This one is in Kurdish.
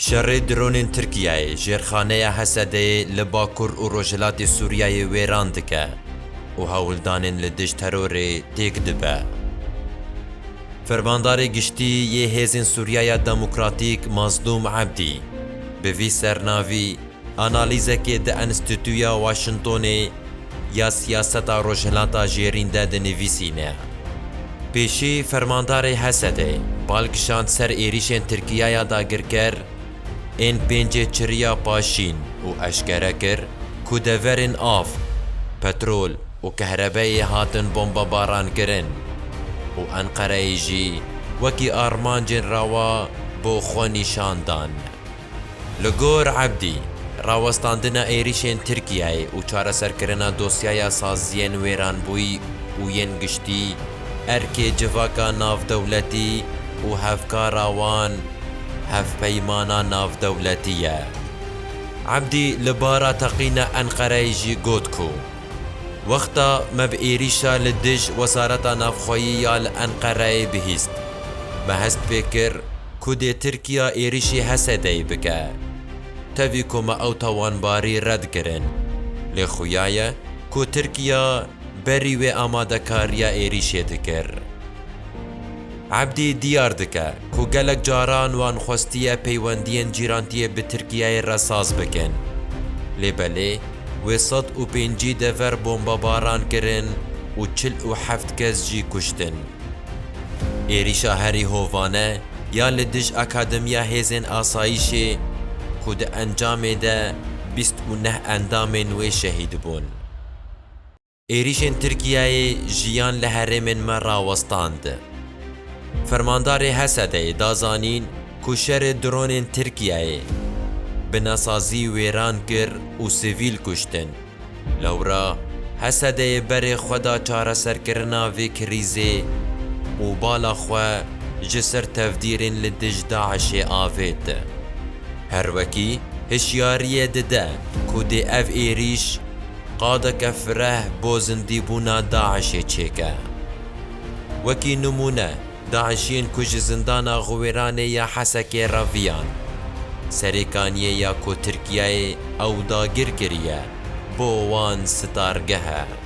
Şerê dronên Tirkiyeyê jêrxaneya Hesedeyê li bakur û rojhilatê Sûriyeyê wêran dike û hewldanên li dijî terorê têk dibe. Fermandarê Giştî yê Hêzên Sûriyeya Demokratîk Mazlûm Ebdî bi vî sernavî, Analîzekê di Enstîtuya Washingtonê ya Siyaseta Rojhilata Jêrîn de dinivîsîne, Pêşî fermandarê Hesedê bal kişand ser êrîşên Tirkiyaya dagirker ên pêncê çiriya Paşîn û eşkere kir ku deverên av, petrol û kehrebeyê hatin bombebarankirin û Enqereyê jî wekî armancên rewa bo xwe nîşan dan. Li gor Ebdî, rawestandina êrîşên Tirkiyeyê û çareserkirina dosyaya saziyên wêranbûyî û yên giştî, erkê civaka navdewletî û hevkara wan hevpeymana navdewletî ye. Ebdî li bara teqîna Enqereyê jî got ku, Wexta me bi êrîşa li dij Wezareta Navxweyî ya li Enqereyê bihîst. Me hest pê kir ku dê Tirkiya êrîşî Hesedeyê bike. Tevî ku me ew tawanbarî red kirin. Lê xuya ye ku Tirkiya berî wê amadekariya êrîşê dikir. Ebdî diyar dike ku gelek caran wan xwestiye peywendiyên cîrantiyê bi Tirkiyeyê re saz bikin. Lê belê wê sed û pêncî dever bombebaran kirin û çil û heft kes jî kuştin. Êrîşa herî hovane ya li dij Akademiya Hêzên Asayîşê ku di encamê de bîst û neh endamên wê şehîd bûn. Êrîşên Tirkiyeyê jiyan li herêmên me rawestand. Fermandarê Hesedeyê da zanîn ku şerê dronên Tirkiyeyê binasazî wêran kir û sivîl kuştin. Lewra Hesedeyê berê xwe da çareserkirina vê krîzê û bala xwe ji ser tevdîrên li dij DAIŞ'ê avêt. Her wekî hişyariyê dide ku dê ev êrîş, Qadeke fireh bo zindîbûna DAIŞ'ê çêke. Wekî nimûne, DAIŞ'iyên ku ji zindana Xiwêranê ya Hesekê re viyan, serêkaniyê ya ku Tirkiyeyê ew dagir kiriye, bo wan sitargeh e.